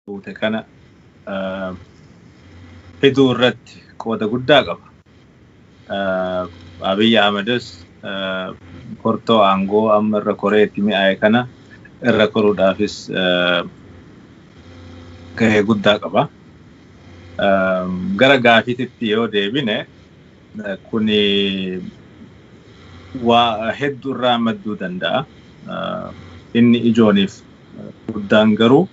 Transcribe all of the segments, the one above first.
buute kana fiduu irratti qooda guddaa qaba. Abiy Ahmedis kortoo aangoo amma irra koree itti mi'aaye kana irra koruudhaafis gahee guddaa qaba. Gara gaafiititti yoo deebine Kun waa hedduu irraa madduu danda'a. Inni ijooniif guddaan garuu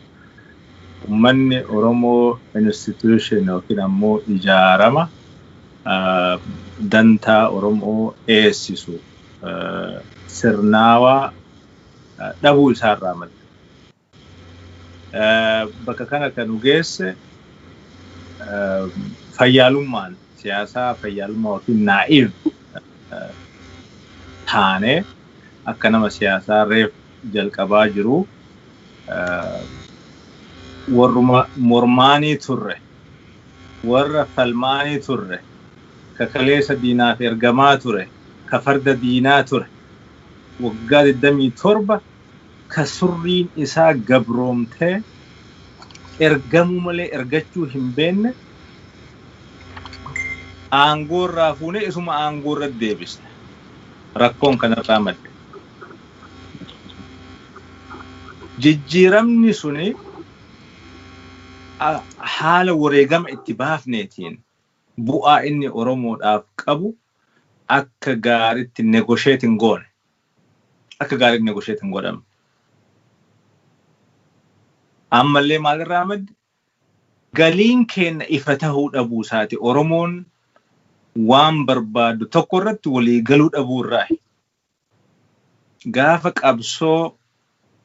ummanni Oromoo institution yookiin ammoo ijaarama dantaa Oromoo eessisu sirnaawaa dhabuu isaarraa madda. Bakka kana kan nu geesse fayyaalummaan siyaasaa fayyaalummaa yookiin naa'iv taane akka nama siyaasaa reef jalqabaa jiru warruma mormaanii turre warra falmaanii turre ka kaleessa diinaaf ergamaa ture ka farda diinaa ture waggaa 27 ka surriin isaa gabroomtee ergamuu malee ergachuu hin beenne aangoo irraa fuunee isuma aangoo irratti deebisne. Rakkoon kanarraa madde. Jijjiiramni suni haala wareegama itti baafneetiin bu'aa inni Oromoodhaaf qabu akka gaaritti negotiate hin goone. akka gaariitti negotiate hin godhamne. Ammallee maalirraa madde galiin keenna ifa tahuu dhabuu isaati Oromoon waan barbaadu tokko irratti walii galuu dhabuu irraahi. Gaafa qabsoo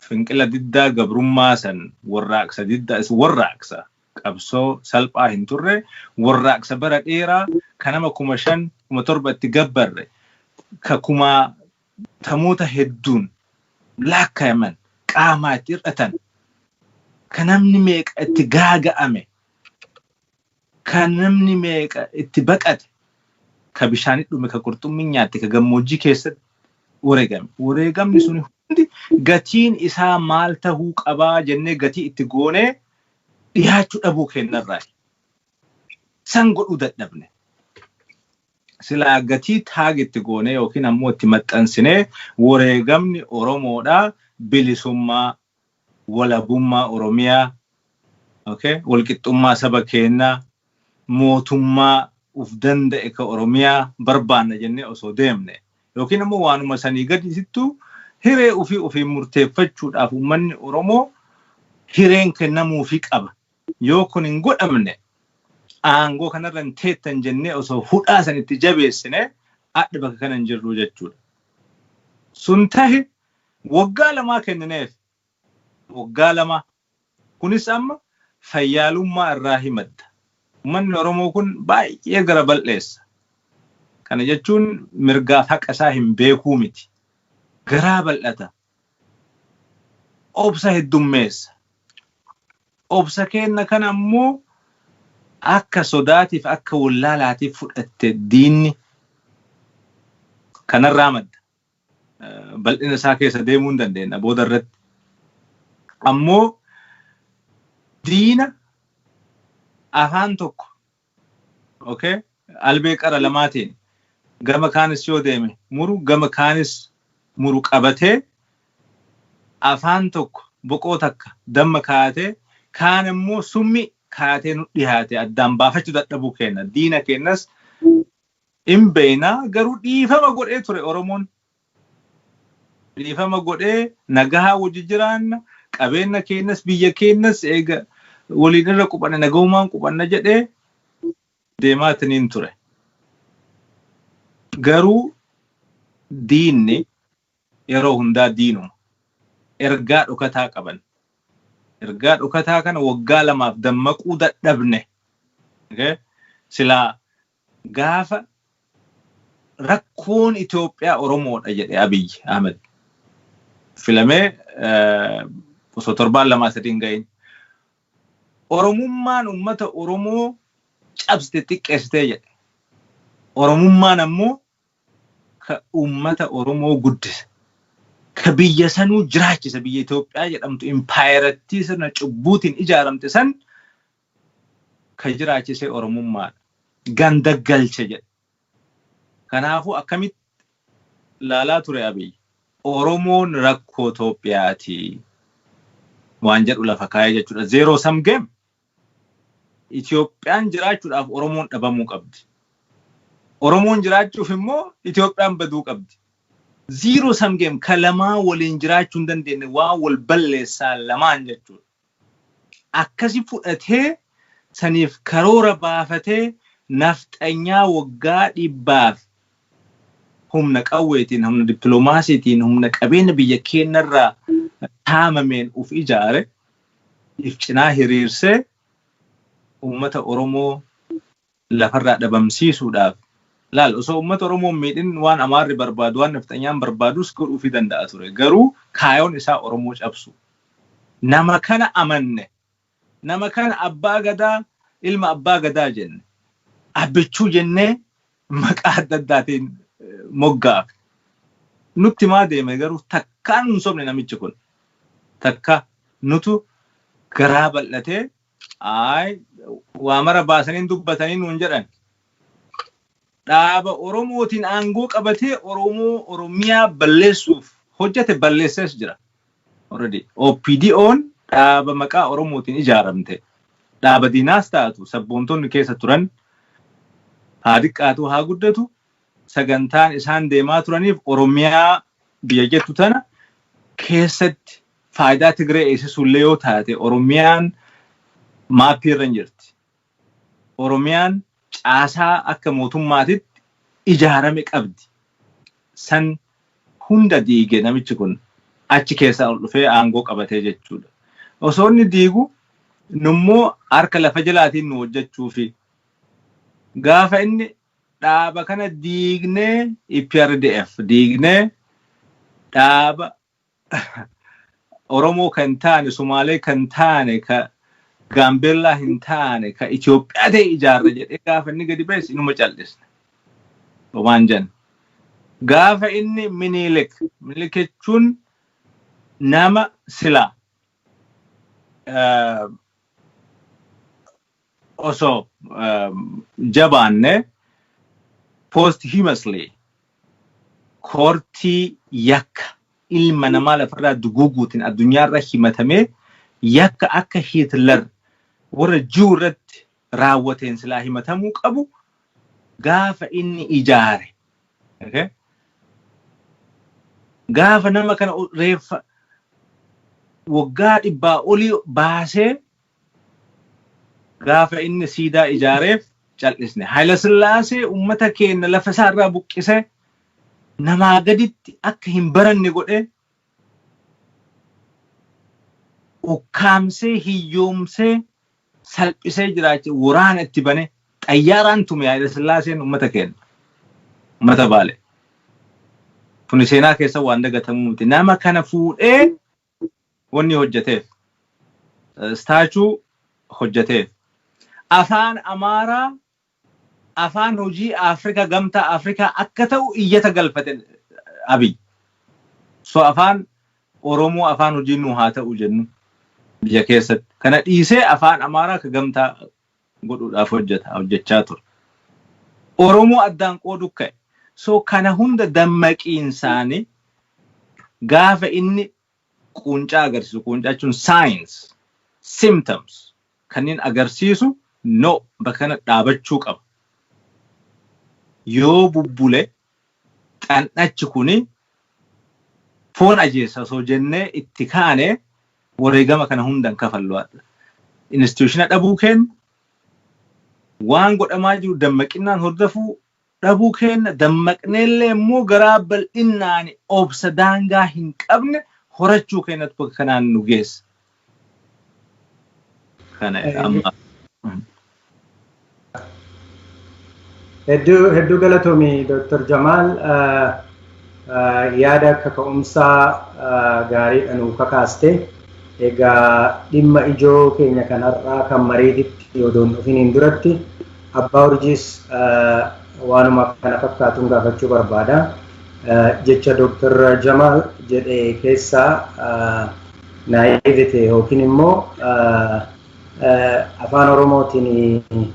finqila diddaa gabrummaa san warraaqsa diddaa is warraaqsa qabsoo salphaa hin turre, warraaqsa bara dheeraa ka nama kuma shan, kuma torba itti gabbarre, ka kumaatamoota hedduun laakkayaman qaamaa itti hir'atan, ka namni meeqa itti gaaga'ame, ka namni meeqa itti baqate, ka bishaanitti dhume, ka qurxummiin nyaatte, ka gammoojjii keessatti wareegame. Wareegamni suni hundi gatiin isaa maal tahuu qabaa jennee gatii itti goonee dhihaachuu dhabuu keenyarraayi. San godhuu dadhabne. Silaa gatii taag itti goonee yookiin ammoo itti maxxansinee wareegamni Oromoodhaa bilisummaa, walabummaa Oromiyaa, okay, walqixxummaa saba keennaa, mootummaa uf danda'e ka Oromiyaa barbaanna jennee osoo deemne ykn ammoo waanuma sanii gadisittuu hiree ufii ofiin murteeffachuudhaaf ummanni Oromoo hireen kennamuufii qaba. Yoo kun hin godhamne aangoo kanarra hin teettan jennee osoo hudhaa san itti jabeessine adha bakka kana hin jirruu jechuudha. Sun tahe woggaa lamaa kennineef. Woggaa lamaa. Kunis amma fayyaalummaa irraahi madda. Ummanni Oromoo kun baay'ee gara bal'eessa. Kana jechuun mirgaaf haqa isaa hin beekuu miti. Garaa bal'ata. Obsa heddummeessa. Obsa keenna kana ammoo akka sodaatiif akka wollaalaatiif fudhatte diinni. Kanarraa madda. bal'ina isaa keessa deemuu hin dandeenya booda irratti. Ammoo diina afaan tokko okay, albee qara lamaatiin gama kaanis yoo deeme muru gama kaanis muru qabatee afaan tokko boqoo takka damma kaayatee kaan immoo summii kaayatee nu dhiyaate addaan baafachuu dadhabuu keenna diina keennas in beeyna garuu dhiifama godhee ture oromoon dhiifama godhee nagahaa wajji jiraanna qabeenna keennas biyya keennas eega waliin irra qubanne nagahumaan qubanna jedhee deemaatiniin ture garuu diinni yeroo hundaa diinuma ergaa dhokataa qaban ergaa dhokataa kana waggaa lamaaf dammaquu dadhabne okay? silaa Gaafa rakkoon Itoophiyaa Oromoodha jedhe Abiy Ahmed filamee osoo torbaan lamaa sadii hin gahin. Oromummaan uummata Oromoo cabsite xiqqeessitee jedhe. Oromummaan ammoo ka uummata Oromoo guddise. Ka biyya sanuu jiraachise biyya Itoophiyaa jedhamtu impaayerattii sirna cubbuutiin ijaaramte san Kan jiraachise Oromummaadha. Ganda galche jedhe. Kanaafuu akkamitti laalaa ture Abiy? Oromoon rakkoo Toophiyaati waan jedhu lafa kaa'e jechuudha. Zero sum game. Itoophiyaan jiraachuudhaaf Oromoon dhabamuu qabdi. Oromoon jiraachuuf immoo Itoophiyaan baduu qabdi. Zero sum game ka lamaan waliin jiraachuu hin dandeenye waan wal balleessaa lamaan jechuudha. akkasi fudhatee saniif karoora baafatee nafxanyaa waggaa dhibbaaf humna qawweetiin, humna dippilomaasiitiin, humna qabeenya biyya keenyarraa saamameen uf ijaare if cinaa hiriirsee uummata Oromoo lafarraa dhabamsiisuudhaaf laal osoo ummata Oromoo hin miidhin waan Amaarri barbaadu waan Nafxanyaan barbaadus godhuufii danda'a ture. Garuu kaayoon isaa Oromoo cabsuu. Nama kana amanne. Nama kana Abbaa Gadaa, ilma Abbaa Gadaa jenne. Abbichuu jennee maqaa adda addaatiin moggaafne. Nutti himaa deeme garuu takkaa nu hin sobne namichi kun. Takkaa nutu garaa bal'atee Ayi waa mara baasanii hin dubbatanii nuun jedhan. Dhaaba Oromootiin aangoo qabatee Oromoo Oromiyaa balleessuuf hojjate balleessees jira. Already OPDOn dhaaba maqaa Oromootiin ijaaramte. Dhaaba diinaas taatu sabboontonni keessa turan haa diqqaatuu haa guddatu sagantaan isaan deemaa turaniif Oromiyaa biyya jettu tana keessatti faayidaa Tigree eegsisuullee yoo taate Oromiyaan maappii irra hin jirti. Oromiyaan caasaa akka mootummaatitti ijaarame qabdi. San hunda diige namichi kun achi keessaa ol dhufee aangoo qabatee jechuudha. Osoo inni diigu nummoo harka lafa jalaatiin nu hojjechuufi. Gaafa inni dhaaba kana diignee EPRDF diignee dhaaba Oromoo kan hin taane, Sumaalee kan hin taane, ka Gaambeellaa hin taane, ka Itoophiyaa ta'e ijaarra jedhee gaafa inni gadi ba'es inuma cal'isne. Homaan jan. Gaafa inni Minilik, Minilik jechuun nama sila eh, osoo jabaanne posthumously koortii yakka ilma namaa lafarraa duguuguutiin addunyaarra himatamee yakka akka Hitler warra Juu irratti raawwateen silaa himatamuu qabu gaafa inni ijaare. Okay? Gaafa nama kana reeffa waggaa dhibbaa olii baasee gaafa inni siidaa ijaareef cal'isne. Haayilasillaasee uummata keenya lafa isaa irraa buqqisee namaa gaditti akka hin baranne godhee ukkaamsee, hiyyoomsee, salphisee jiraacha waraana itti bane xayyaaraan tume Haayilasillaaseen uummata keenya. Uummata Baalee. Kuni seenaa keessa waan dagatamuu miti. Nama kana fuudhee wanni hojjateef staachuu hojjateef afaan amaaraa afaan hojii afrika gamtaa afrikaa akka ta'u iyyata galfate abiy so afaan oromoo afaan hojii nu haa ta'u jennu biyya keessatti kana dhiisee afaan amaaraa akka gamtaa godhuudhaaf hojjeta, hojjechaa ture. Oromoo addaan qooduuf ka'e. So kana hunda dammaqiinsaan gaafa inni quuncaa agarsiisu, quuncaa jechuun signs, symptoms kanneen agarsiisu no bakka kanatti dhaabachuu qaba. Yoo bubbule Xan'achi kun foon ajeessa osoo jennee itti kaane wareegama kana hunda hin kafallu hadha. Instituushina dhabuu keenna, waan godhamaa jiru dammaqinnaan hordofuu dhabuu keenna, dammaqneellee immoo garaa bal'innaan obsa daangaa hin qabne horachuu keennatu bakka kanaan nu geesse. Kana amma Hedduu hedduu galatoomi Dr. Jamaal yaada kaka'umsaa gaariidha nuu kakaaste. Egaa dhimma ijoo keenya kan har'aa kan mariititti odoon dhufiniin duratti abbaa urjiis waanuma kana fakkaatuun gaafachuu barbaada. Jecha Dr. Jamaal jedhe keessaa naivete yookiin immoo afaan oromootiin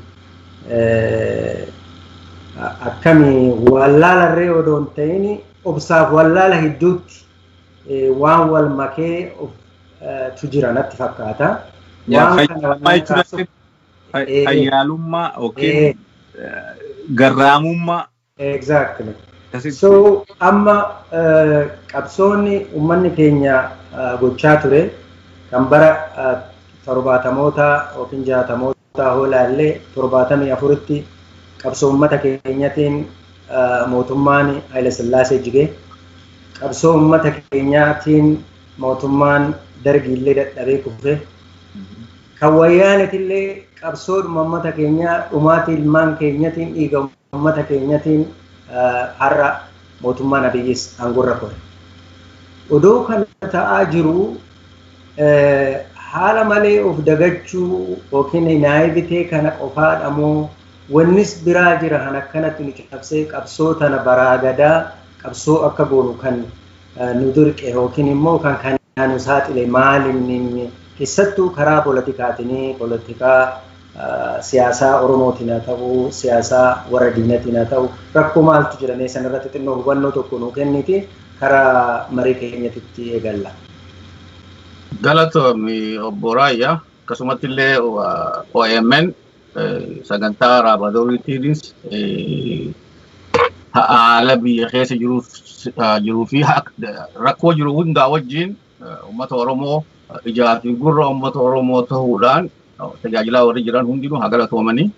akkami wallaala irree odoo hin ta'in obsaaf wallaala gidduutti waan wal makee tu jira natti fakkaata. Fayyaalummaa yookiin garraamummaa Exactly. That is So true. amma eh, qabsoonni uummanni keenya eh, gochaa ture kan bara eh, torbaatamoota yookiin jaatamoota hoo ilaalle torbaatamii afuritti qabsoo uummata keenyatiin eh, mootummaan Haayila Sillaasee jige. Qabsoo uummata keenyaatiin mootummaan dargiillee dadhabee kufe. Kan wayyaanetillee qabsoodhuma uummata keenyaa dhumaatii ilmaan keenyatiin dhiiga Ummata keenyatiin har'a mootummaan Abiyyis aangorra kore. Odoo kana ta'aa jiruu haala malee of dagachuu yookiin naivitee kana qofaadha moo wannis biraa jira kan akkanatti nu cabsee qabsoo tana baraa gadaa qabsoo akka goonu kan nu dirqe yookiin immoo kan kanaa nu saaxile maal inni inni keessattuu karaa politikaatinii politikaa siyaasaa Oromootiin haa ta'u, siyaasaa warra diinatiin haa ta'u, rakkoo maaltu jira mee sanarratti xinnoo hubannoo tokko nuu kenniiti kara marii keenyatitti eegalla. Galatoomi obbo Raayyaa. Akkasumatti illee OMN sagantaa Raabadoorii TVs haala biyya keessa jiruu fi rakkoo jiru hundaa wajjin Uummata Oromoo ijaa fi gurra uummata Oromoo ta'uudhaan tajaajilaa warri jiran hundinuu haa galatoomanii.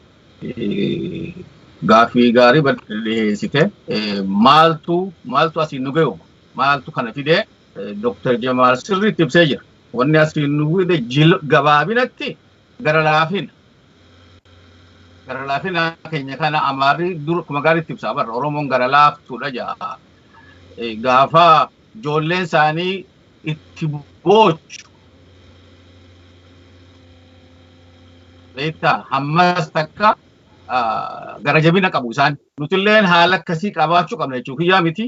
Gaaffii gaarii bal'aa dhiheessite. Maaltu maaltu asiin nu gahu? Maaltu kana fide? Dr. Jamaal sirriitti ibsee jira. Wanni asiin nu fide jil gabaabinatti gara laafina. Gara laafina keenya kana Amaarri dur akkuma gaariitti ibsa. Abarra Oromoon gara laaftuudha ja'a. Gaafa ijoolleen isaanii itti boochu beektaa hammas takka gara jabina qabu isaan nutilleen haala akkasii qabaachuu qabna jechuu kiyyaa miti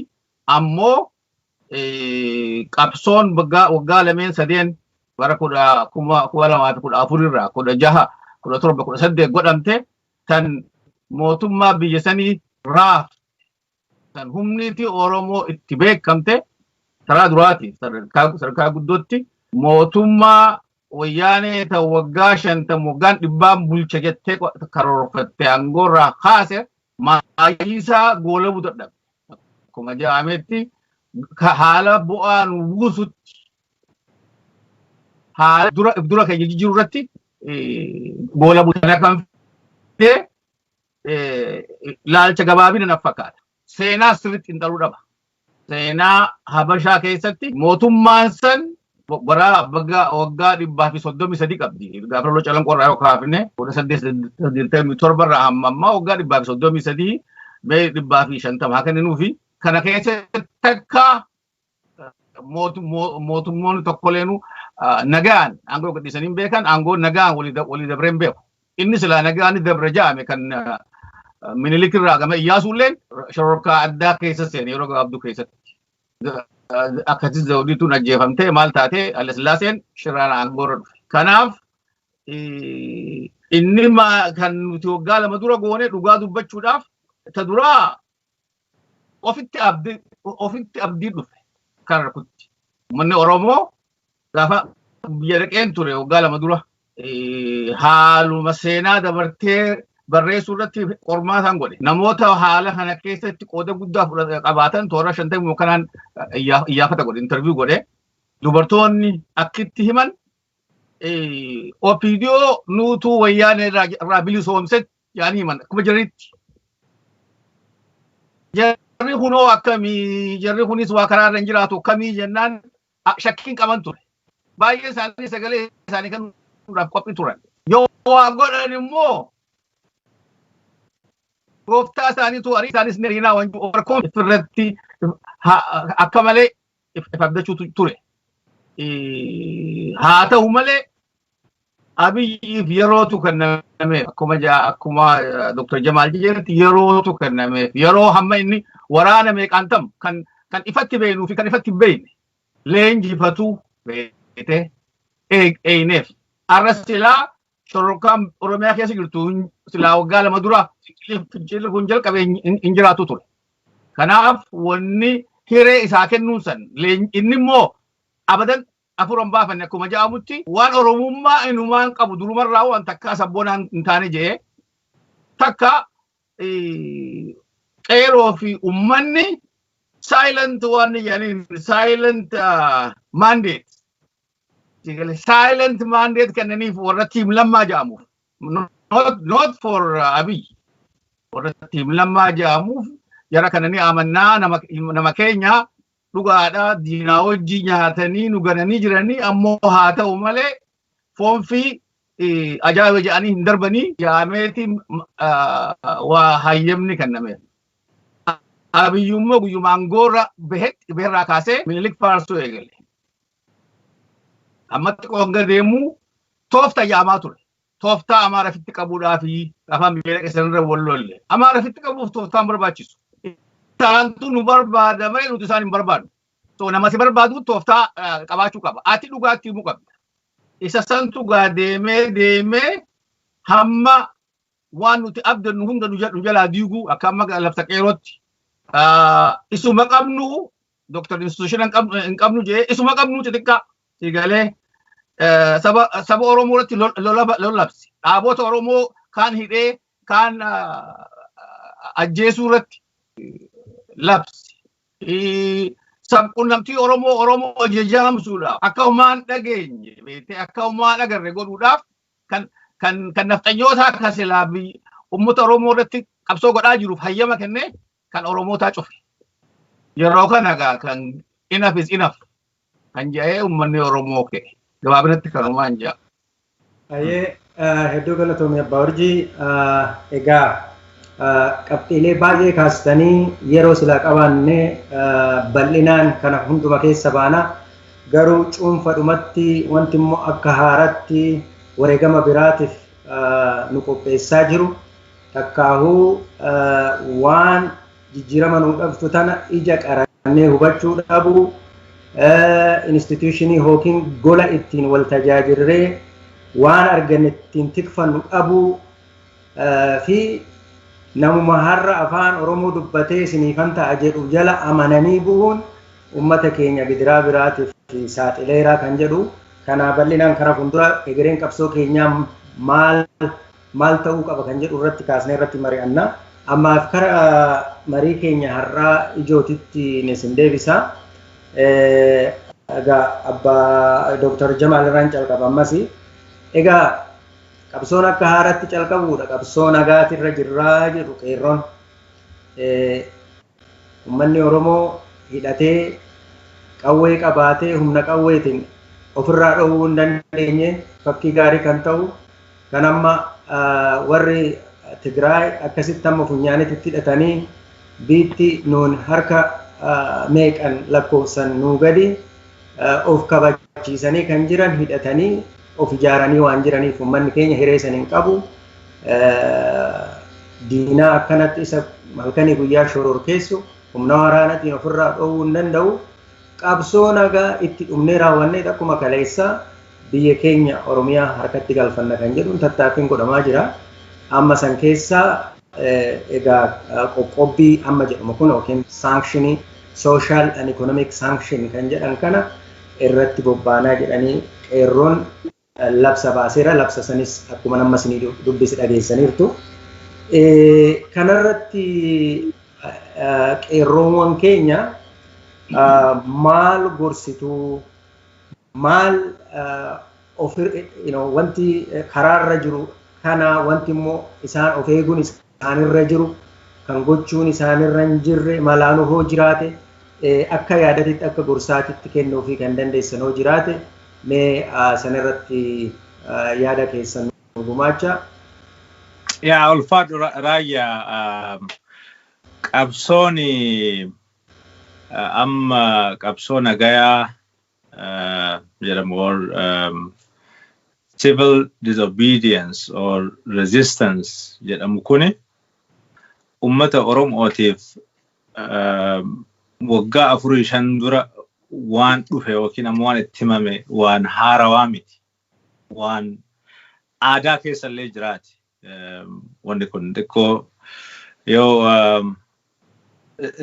ammoo qabsoon waggaa lameen sadeen bara kudha kuma kuma lamaa fi kudha afur irraa kudha jaha kudha torba kudha saddeet godhamte tan mootummaa biyya sanii raaf kan humniitii Oromoo itti beekamte karaa duraati sadarkaa guddootti mootummaa wayyaanee ta waggaa shantam waggaan dhibbaan bulcha jettee karoorfatte aangoorraa kaase maayiisaa goolabuu dadhabe. Akkuma jedhametti haala bu'aa nu buusutti haala dura dura keenya jijjiiruu irratti goolabuu kana kan fide ilaalcha gabaabina naf fakkaata. Seenaa sirriitti xiinxaluu dhaba. Seenaa Habashaa keessatti mootummaan san bara baga waggaa dhibbaa fi soddomii sadii qabdi. Gaafa loloo calanqoo irraa yoo kaafne kudha saddeet digdamii torba irraa amma ammaa waggaa dhibbaa fi soddomii sadii mee dhibbaa fi shantama haa kenninuufi. Kana keessatti takka mootummoonni tokkoleenuu nagaan aangoo gadhiisanii hin beekan aangoo nagaan walii dabree hin beeku. Inni silaa nagaan dabre jaame kan minilik irraa gama iyyaasuulleen shororkaa addaa keessa seene yeroo gabaabduu keessatti. Akkasii zawdiituun ajjeefamtee maal taatee Alasillaaseen shiraan aangoo irra dhufe. Kanaaf inni kan nuti waggaa lama dura goone dhugaa dubbachuudhaaf ta duraa ofitti abdii ofitti abdii dhufe kan rukutti. Uummanni Oromoo gaafa biyya dhaqeen ture waggaa lama dura eh, haaluma seenaa dabartee barreessuu irratti qormaataan godhe. Namoota haala kana keessatti qooda guddaa fudhata- qabaatan toora shantamii kanaan eh, iyyaa- iyyaafata godhe, interview godhe. Dubartoonni akkitti himan eh, OPDO nuutuu wayyaanee irraa irraa bilisoomsetti yaanii himan akkuma jiranitti. Jarri kunoo akkamii jarri kunis waa karaa irra hin jiraatu akkamii jennaan a- shakkiin qaban ture. Baay'ee isaanii sagalee isaanii kennuudhaaf qophii turan. Yoo waa godhan immoo gooftaa isaaniitu arii isaanis ni ariinaa wanjuu warkoon irratti ha- akka malee if abdachuutu ture. Haa ta'u malee abiyyiif yerootu kennameef akkuma akkuma Dr. Jamaal jedhetti yerootu kennameef yeroo hamma inni waraana meeqaan tam kan kan ifatti beeknuu fi kan ifatti hin beekne leenjifatu beekte eeyneef. Arras silaa shororkaan Oromiyaa keessa jirtu hin- silaa waggaa lama dura fincilli kun jalqabe hin- hin hin jiraatu ture. Kanaaf wanni hiree isaa kennuun san leen- inni immoo abadan afur hin baafanne akkuma jedhamutti waan Oromummaa inumaan qabu durumarraa waan takkaa sabboonaa hin taane jedhee takka eh, qeeroo fi ummanni silent waan jedhaniin silent mandate Sigale silent mandate kennaniif warra tiim lammaa jedhamuuf. Not, not for uh, Abiy. Warra tiim lammaa jedhamuuf jara kana ni amannaa nama, nama keenya dhugaadha diinaa wajjii nyaatanii nu gananii jiranii ammoo haa ta'u malee foonfii eh, ajaa'iba jedhanii hin darbanii jaameeti ah, waa hayyamni kennameef. Abiyyummoo guyyumaan goorra behetti beherraa kaasee minilik faarsuu eegale. Ammatti qoonga deemuu toofta yaamaa ture. Tooftaa Amaara fitti qabuudhaa fi afaan biyya keessanirra wal lolle. Amaara fitti qabuuf tooftaan barbaachisu. Isaantu nu barbaada malee nuti isaan hin barbaadnu. So nama si barbaadu tooftaa qabaachuu qaba. Ati dhugaatti himuu qabda. Isa santu gaa deemee deemee hamma waan nuti abdannu hunda nu jal- nu jalaa diiguu akka amma lafta qeerootti Ah, isuma qabnu doktar institushina hin qabnu jee isuma qabnu xixiqqaa si galee eh, saba saba oromoo irratti lol- lola- lolabse dhaabota oromoo kaan hidhee kaan ah, ajjeesuu irratti labse Eh, sabqunnamtii oromoo oromoo jejaamsuudhaaf akka humaan dhageenye beektee akka humaan agarre godhuudhaaf kan kan kan nafxanyootaa kan silaa biyyi uummata Oromoo irratti qabsoo godhaa jiruuf hayyama kennee kan Oromootaa cufe. Yeroo kana egaa kan inaf is inaf kan jedhee uummanni Oromoo ka'e. Gabaabinatti kanumaan jedha. Ayee hedduu galatoomi abbaa urjii egaa qabxiilee baay'ee kaastanii yeroo silaa qabaanne bal'inaan kana hunduma keessa baana Garuu cuunfadhumatti wanti immoo akka haaraatti wareegama biraatiif nu qopheessaa jiru, takkaahuu waan jijjiirama nuu dhabtu tana ija qarannee hubachuu dhabuu, institution yookiin gola ittiin wal tajaajirree waan arganne ittiin tikfannu dhabuu fi namuma har'a afaan Oromoo dubbatee isiniifan ta'a jedhu jala amananii bu'uun ummata keenya gidiraa biraatiif saaxileera kan jedhu kana bal'inaan kara fuuldura egereen qabsoo keenyaa maal maal ta'uu qaba kan jedhu irratti kaasnee irratti mari'anna. Ammaaf kara marii keenya har'aa ijootitti isin deebisa. Egaa abbaa Dooktar Jamaal irraan calqaba ammas. Egaa qabsoon akka haaraatti calqabuudha qabsoo nagaatirra jirraa jedhu qeerroon. Ummanni Oromoo hidhatee, qawwee qabaatee humna qawweetiin ofirraa dhoowwuu hin dandeenye fakkii gaarii kan ta'u kan amma warri Tigraay akkasitti amma funyaanitti itti hidhatanii biitti nuun harka meeqan lakkoofsan nuu gadi of kabachiisanii kan jiran hidhatanii of ijaaranii waan jiraniif ummanni keenya hiree san hin qabu. diinaa akkanatti isa halkanii guyyaa shororkeessu humna waraanatiin ofirraa dhoowwuu hin danda'u. Qabsoo nagaa itti dhumnee raawwannee akkuma kaleessaa biyya keenya Oromiyaa harkatti galfanna kan jedhuun tattaaffiin godhamaa jira. Amma san keessaa egaa qoqqobbii amma jedhamu kun yookiin saankshini social and economic sanction kan jedhan kana irratti bobbaanaa jedhanii qeerroon labsa baaseera. Labsa sanis akkuman amma isinii dubbise dhageessaniirtu. Kanarratti qeerroowwan keenya maal gorsituu maal wanti karaarra jiru kana wanti immoo isaan of eeguun isaanirra jiru, kan gochuun isaanirra hin jirre malaanu hoo jiraate, akka yaadatitti, akka gorsaatitti kennuufii kan dandeessan hoo jiraate mee sanarratti yaada keessan nuu gumaachaa. Yaa ulfaadhu Raayyaa, qabsoon amma qabsoo nagayaa jedhamu or civil disobedience or resistance jedhamu kuni ummata Oromootiif waggaa afurii shan dura waan dhufe yookiin ammoo waan itti himame waan haarawaa miti. Waan aadaa keessa illee jiraate. Wanni kun xiqqoo yoo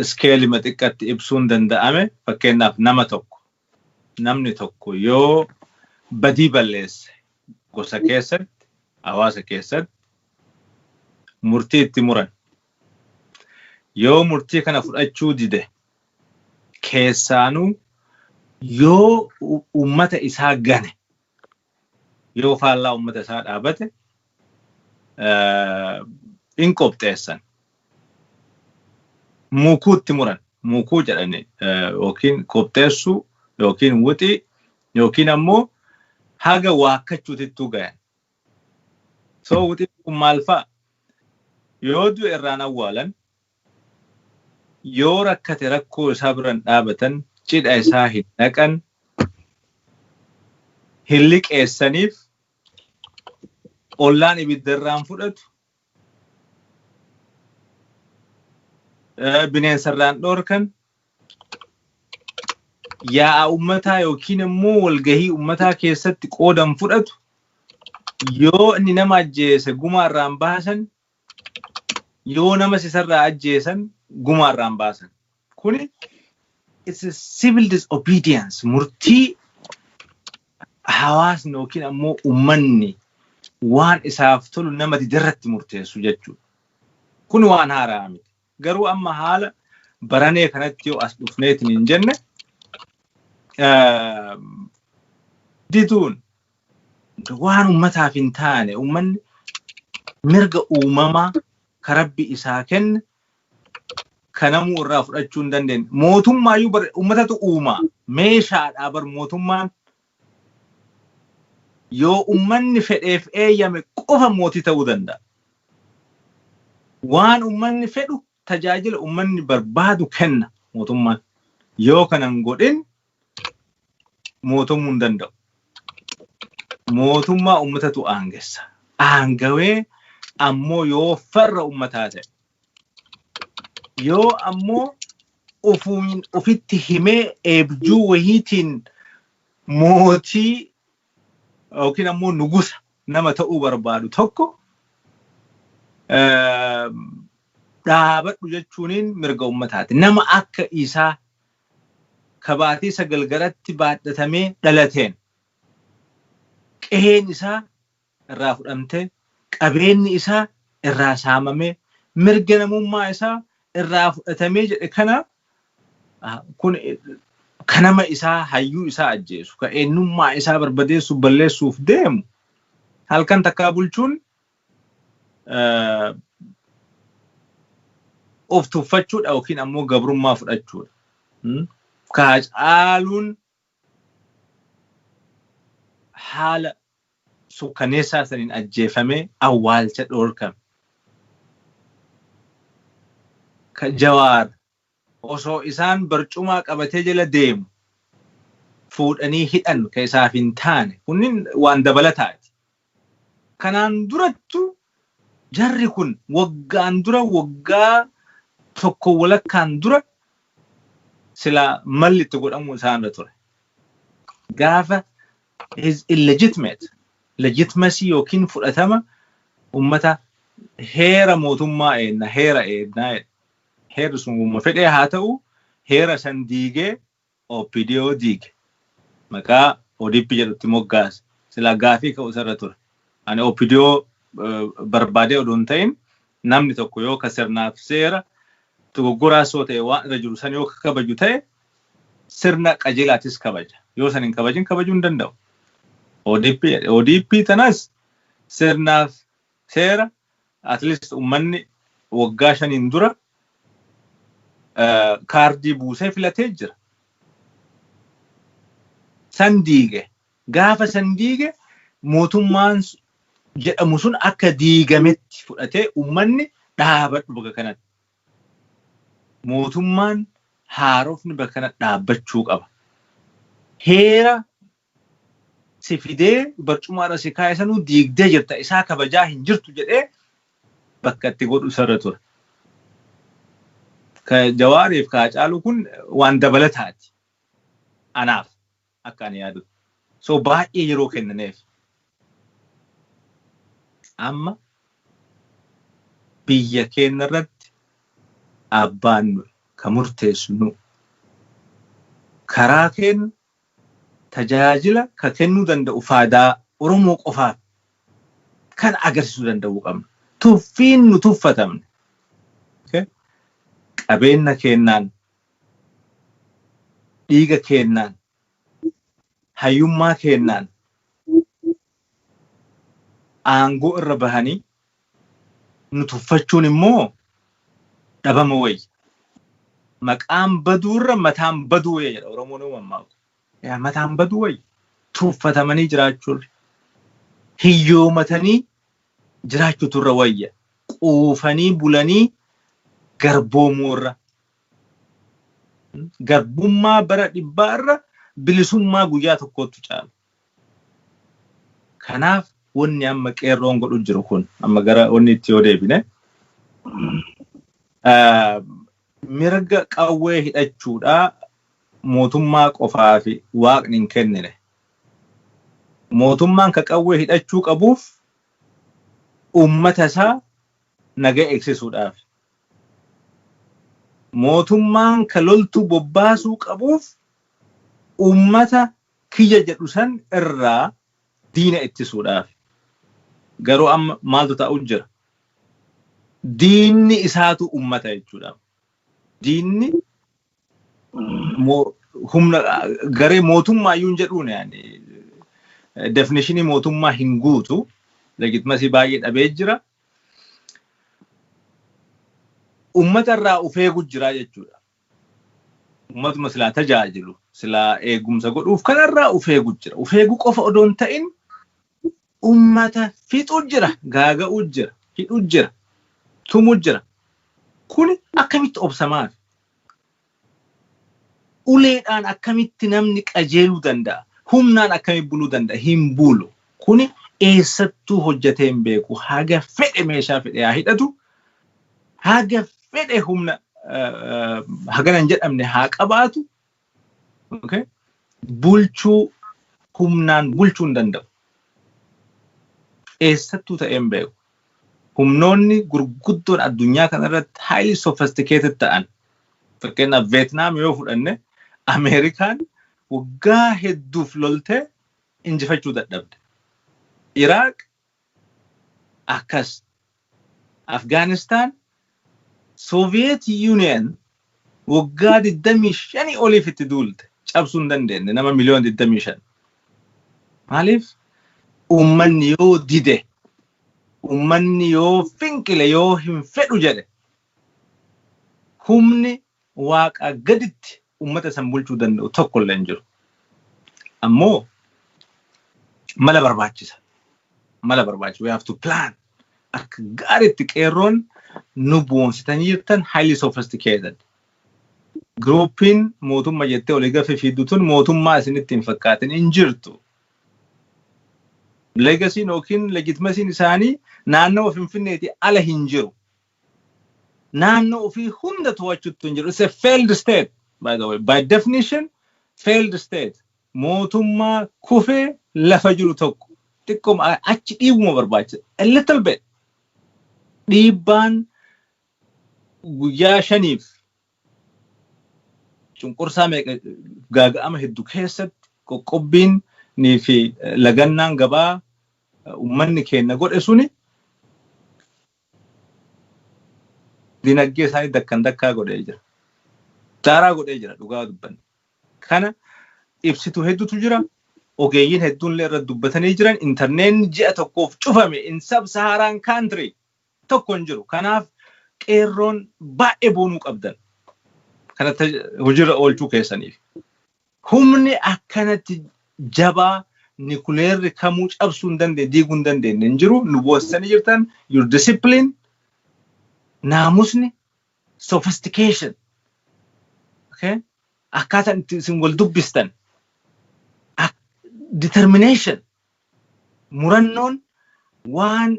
iskeelima xiqqatti ibsuun danda'ame fakkeenyaaf nama tokko namni tokko yoo badii balleesse gosa keessatti hawaasa keessatti murtii itti muran yoo murtii kana fudhachuu dide keessaanuu yoo uummata isaa gane yoo faallaa uummata isaa dhaabate in qopheessan. Muukuutti muran. Muukuu jedhani yookiin qopheessuu yookiin wuxii yookiin ammoo haga waakkachuutittuu gayan. So wuxiin kun maal fa'a? Yoo du'e irraan awwaalan Yoo rakkate rakkoo isaa bira hin dhaabatan, cidha isaa hin dhaqan, hin liqeessaniif, ollaan ibidda irraa hin fudhatu, bineensa irraa hin dhoorkan, yaa'a ummataa yookiin immoo walgahii ummataa keessatti qooda hin fudhatu, yoo inni nama ajjeese gumaa irraa hin baasan, Yoo namas isarraa ajjeesan gumaa irraan baasan. Kuni it's a civil disobedience murtii hawaasni yookiin ammoo ummanni waan isaaf tolu nama diderratti murteessu jechuudha. Kun waan haaraa miti. Garuu amma haala baranee kanatti yoo as dhufneetiin hin jenne diduun waan ummataaf hin taane ummanni mirga uumamaa ka rabbi isaa kenne kanamuu irraa fudhachuu hin dandeenye. Mootummaayyuu ummatatu uumaa meeshaadhaa bar mootummaan Yoo ummanni fedheef eeyyame qofa mootii ta'uu danda'a. Waan ummanni fedhu, tajaajila ummanni barbaadu kenna mootummaan. Yoo kana hin godhin mootomuu hin danda'u. Mootummaa ummatatu aangessa. Aangawee ammoo yoo farra ummataa ta'e. Yoo ammoo ufumiin ufitti himee eebjuu wahiitiin mootii yookiin ammoo nugusa nama ta'uu barbaadu tokko dhaabadhu jechuuniin mirga ummataati. Nama akka isaa kabaatii sagal garatti baadhatamee dhalateen qeheen isaa irraa fudhamtee, qabeenyi isaa irraa saamamee, mirga namummaa isaa irraa fudhatamee jedhe kana kun ka nama isaa hayyuu isaa ajjeesu, ka eenyummaa isaa barbadeessuuf balleessuuf deemu halkan takkaa bulchuun of tuffachuudha yookiin ammoo gabrummaa fudhachuudha. Ka Hacaaluun haala sukkaneessaa saniin ajjeefamee awwaalcha dhoorkame. Ka Jawaar osoo isaan barcumaa qabatee jala deemu fuudhanii hidhan ka isaaf hin taane kunniin waan dabalataati. Kanaan durattu jarri kun waggaan dura waggaa tokko walakkaan dura silaa malli itti godhamuu isaan irra ture. Gaafa his illegitimate legitimacy yookiin fudhatama ummata heera mootummaa eegna heera eegna jedhe. Heerri sun wamma fedhee haa ta'uu heera san diigee opdo diige maqaa odp jedhutti moggaase silaa gaafii ka'u isarra ture ani opdo barbaadee odoo hin ta'in namni tokko yoo ka sirnaaf seera dogoggoraas yoo ta'e waan irra jiru san yoo ka kabaju ta'e sirna qajeelaatis kabaja yoo san hin kabajin kabajuu hin danda'u odp jedhe odp tanas sirnaaf Seera at least ummanni waggaa shaniin dura kaardii buusee filatee jira. San diige. Gaafa san diige mootummaan jedhamu sun akka diigametti fudhatee ummanni dhaabadhu bakka kanatti. Mootummaan haarofni bakka kanatti dhaabbachuu qaba. Heera si fidee barcumaa irra si kaa'e sanuu diigdee jirta isaa kabajaa hin jirtu jedhee bakka itti godhu isarra ture. Ka Jawaariif ka Hacaaluu kun waan dabalataati anaaf akka ani yaadutti. So baay'ee yeroo kennaneef. Amma biyya keenya irratti abbaan nuyi ka murteessu nu. Karaa keenya tajaajila ka kennuu danda'u faadaa Oromoo qofaaf kana agarsiisuu danda'uu qabna. Tuffiin nu tuffatamne okay qabeenna keennaan, dhiiga keennaan, hayyummaa keennaan aangoo irra bahanii nu tuffachuun immoo dhabama wayya. Maqaan baduu irra mataan baduu wayya jedha Oromoon yoo mammaaku. Yaa mataan baduu wayya. Tuffatamanii jiraachuu irra, hiyyoomatanii jiraachuutu irra wayya. Quufanii bulanii garboomuu irra. Garbummaa bara dhibbaa irra bilisummaa guyyaa tokkoottu caala. Kanaaf wanni amma qeerroon godhu jiru kun amma gara wanni itti yoo deebine mirga qawwee hidhachuudhaa mootummaa qofaa fi waaqni hin kennine. Mootummaan ka qawwee hidhachuu qabuuf uummata isaa nagaa eegsisuudhaaf. Mootummaan ka loltuu bobbaasuu qabuuf uummata kiyya jedhu san irraa diina ittisuudhaaf. Garuu amma maaltu ta'u jira? Diinni isaatu ummata jechuudha. Diinni humna garee mootummaa iyyuu hin jedhuun yaani definishinii mootummaa hin guutu legitimasii baay'ee dhabee jira. Ummata irraa of eegu jira jechuudha. Ummatuma silaa tajaajilu, silaa eegumsa godhuuf kanarraa uf eegu jira. Uf eegu qofa odoo hin ta'in ummata fixu jira, gaaga'u jira, hidhu jira, tumu jira. Kuni akkamitti obsa maafi? Uleedhaan akkamitti namni qajeeluu danda'a? Humnaan akkamitti buluu danda'a? Hin bulu. Kuni eessattuu hojjatee hin beeku. Haga fedhe meeshaa fedhe haa hidhatu, haga fedhe humna hagana hin jedhamne haa qabaatu, bulchuu humnaan bulchuu hin danda'u. Eessattuu ta'ee hin beeku. Humnoonni gurguddoon addunyaa kanarratti highly sophisticated ta'an fakkeenyaaf Veetnaam yoo fudhanne Ameerikaan waggaa hedduuf loltee injifachuu dadhabde. Iraaq akkas. Afgaanistaan Soviet Union waggaa 25 oliif itti duulte cabsuu hin dandeenye nama miliyoona 25. Maaliif uummanni yoo dide, uummanni yoo finqile, yoo hin fedhu jedhe Humni Waaqaa gaditti ummata isan bulchuu danda'u tokko illee hin jiru. Ammoo mala barbaachisa. Mala barbaachisa. We have to plan. Akka gaariitti qeerroon nu boonsitanii jirtan highly sophisticated. Giruupiin mootumma jettee olii gafi fiiddu tun mootummaa isinitti hin fakkaatin hin jirtu. Legasiin yookiin legitimasiin isaanii naannawa Finfinneetii ala hin jiru. naannoo ofii hunda to'achuutti hin jiru. It's a failed state by the way. By definition failed state. Mootummaa kufee lafa jiru tokko xiqqooma a- achi dhiibuma barbaachisa. A little bit. Dhiibbaan guyyaa shaniif cunqursaa meeqa gaaga'ama heddu keessatti qoqqobbiin nii fi eh, lagannaan gabaa eh, ummanni keenya godhe suni Dinaggee isaanii dakkan dakkaa godhee jira. Daaraa godhee jira dhugaa dubbanne. Kana ibsitu hedduutu jira. Ogeeyyiin hedduun illee irratti dubbatanii jiran intarneetni ji'a tokkoof cufame in sub saharaan country tokko hin jiru. Kanaaf qeerroon baay'ee boonuu qabdan. Kana hojiirra oolchuu keessaniif. Humni akkanatti jabaa nikuleerri kamuu cabsuu hin dandeenye, diiguu hin dandeenye hin jiru. Nu boossisanii jirtan your discipline, naamusni, sophistication, okay? akkaataan itti isin wal dubbistan, ak- determination, murannoon waan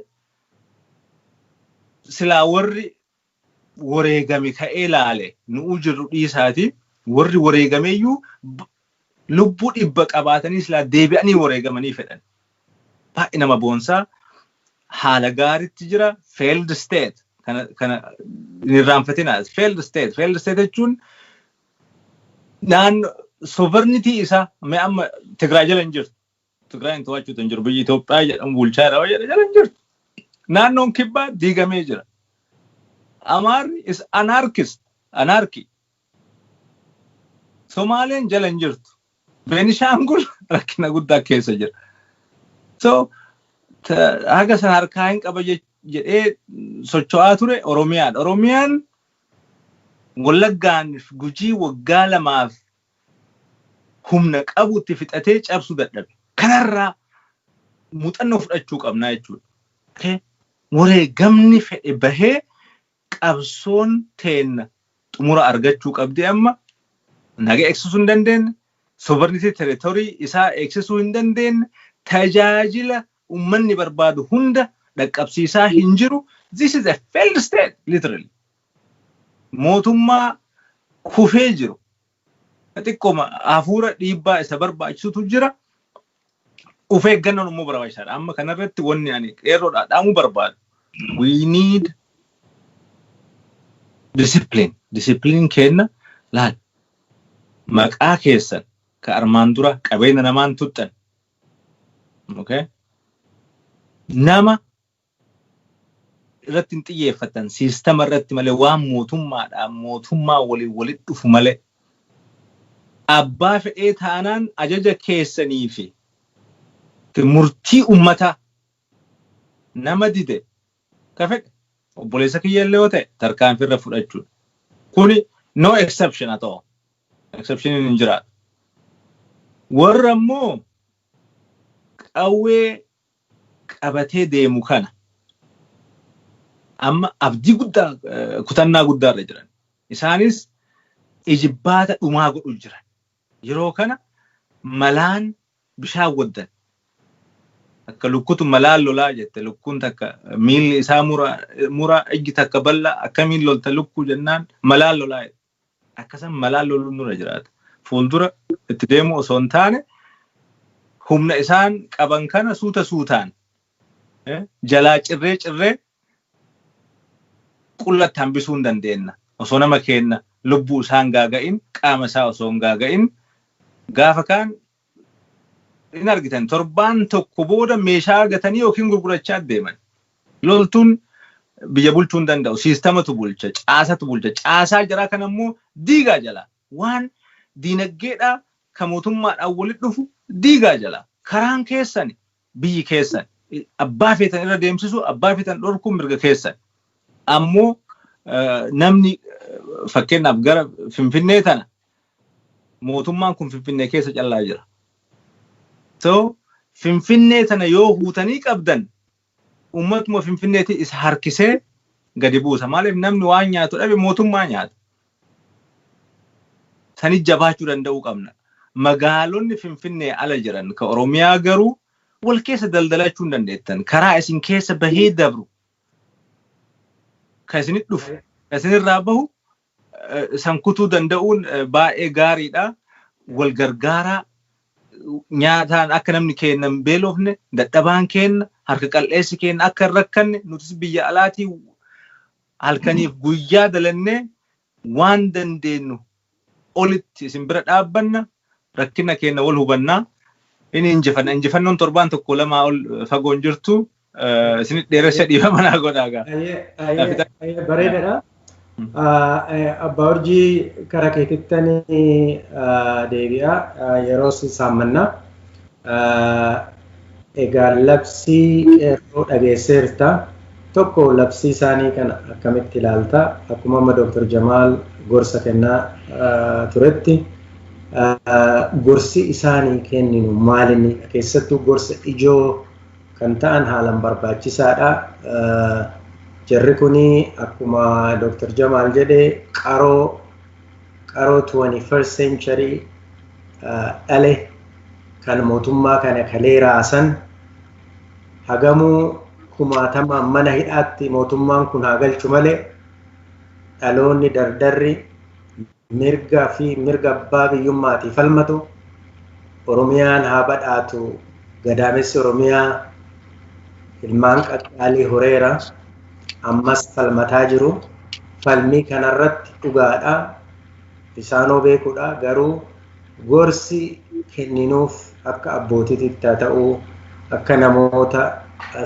silaa warri wareegame ka'ee laale nu'uu jirru dhiisaati warri wareegameeyyuu lubbuu dhibba qabaatanii silaa deebi'anii wareegamanii fedhan. Baay'ee nama boonsaa haala gaaritti jira failed state kana kana irraanfatinaas failed state failed state jechuun naannoo sovereignty isaa mee amma Tigraay jala hin jirtu Tigraayin to'achuutu hin jiru. Biyyi Itoophiyaa jedhamu bulchaa jira jedha jala hin jirtu. Naannoon kibbaa diigamee jira. Amaarri is anarchist, anarchy. Somaaleen jala hin jirtu. Beenishaangul rakkina guddaa keessa jira. So haga sana harkaa hin qaba jedhee socho'aa ture Oromiyaadha. Oromiyaan Wallaggaan gujii waggaa lamaaf humna qabu itti fixatee cabsu dadhabe. Kanarraa muuxannoo fudhachuu qabnaa jechuudha. Okay? Wareegamni fedhe bahee qabsoon teenna xumura argachuu qabdi amma naga eegsisuu hin dandeenye, sovereignty territory isaa eegsisuu hin dandeenye, tajaajila ummanni barbaadu hunda dhaqqabsiisaa hin jiru. This is a failed state literally. Mootummaa kufee jiru xiqqooma hafuura dhiibbaa isa barbaachisutu jira. Of eeggannoon immoo barbaachisaadha. Amma kanarratti wanni ani qeerroodhaa dhaamuu barbaadu we need discipline. Discipline keenna laal maqaa keessan ka armaan dura qabeenya namaan tuxxan okay? nama irratti hin xiyyeeffatan siistama irratti malee waan mootummaadhaan mootummaa waliin walitti dhufu malee abbaa fedhee taanaan ajaja keessanii fi murtii ummataa nama dide ka fedhe obboleessa kiyya illee yoo ta'e tarkaanfii irra fudhachuudha. Kuni no exception at all. Exceptioniin hin jiraatu. Warra immoo qawwee qabatee deemu kana amma abdii guddaa kutannaa guddaa irra jiran. Isaanis ijibbaata dhumaa godhu jiran. Yeroo kana malaan bishaan waddan. Akka lukkutu malaan lolaa jette lukkuun takka miilli isaa muraa ijji takka bal'aa akkamiin lolta lukkuu jennaan malaan lolaa jette. Akka san malaan loluun nurra jiraata. Fuuldura itti deemuu osoo hin taane humna isaan qaban kana suuta suutaan jalaa cirree cirree qullatti hambisuu hin dandeenna. Osoo nama keenna lubbuu isaan gaaga'in qaama isaa osoo hin gaaga'in gaafa kaan hin argitan torbaan tokko booda meeshaa gatanii yookiin gurgurachaa deeman. Loltuun biyya bulchuu hin danda'u. Siistamatu bulcha, caasatu bulcha. Caasaa jaraa kana immoo diigaa jala. Waan diinaggeedhaa ka mootummaadhaan walitti dhufu diigaa jala. Karaan keessani Biyyi keessan. Abbaa feetan irra deemsisuu, abbaa feetan dhorkuun mirga keessan. Ammoo namni fakkeenyaaf gara Finfinnee tana mootummaan kun Finfinnee keessa callaa jira. So Finfinnee tana yoo huutanii qabdan uummatuma Finfinneetii isa harkisee gadi buusa. Maaliif namni waan nyaatu dhabe mootummaa nyaata. Sanitti jabaachuu danda'uu qabna. Magaalonni Finfinnee ala jiran ka Oromiyaa garuu wal keessa daldalachuu hin dandeettan. Karaa isin keessa bahee dabru ka isinitti dhufu ka isinirraa bahu san kutuu danda'uun baay'ee gaariidha. Wal gargaaraa nyaataan akka namni keenna hin beelofne dadhabaan keenna harka qal'eessi keenna akka hin rakkanne nutis biyya alaatii Halkaniif guyyaa dalannee waan dandeennu olitti isin bira dhaabbanna, rakkina keenna wal hubanna, ini injifanna. Injifannoon torbaan tokkoo lamaa ol fagoo hin jirtu. Isinit dheeressa dhiifama naa godhaa gaa. Ayee bareedadha. Abbaa Urjii kara keetittani deebi'a yeroos saammanna. Egaa labsii Qeerroo dhageesseerta. Tokko labsii isaanii kana akkamitti ilaalta? Akkuma amma Dr. Jamaal gorsa kennaa turetti gorsi isaanii kenninu maalinni? Keessattuu gorsa ijoo kan ta'an haalan barbaachisaadha. Jarri kuni akkuma Dr. Jamaal jedhe qaroo qaroo 21st century dhale kan mootummaa kana kalee raasan hagamuu kumaatamaan mana hidhaatti mootummaan kun haa galchu malee dhaloonni dardarri mirga fi mirga abbaa biyyummaatii falmatu Oromiyaan haa badhaatu gadaamessi Oromiyaa ilmaan qaqqaalii horeera ammas falmataa jiru falmii kanarratti dhugaadha isaanoo beekudha garuu Gorsi kenninuuf akka abbootiititti haa ta'u, akka namoota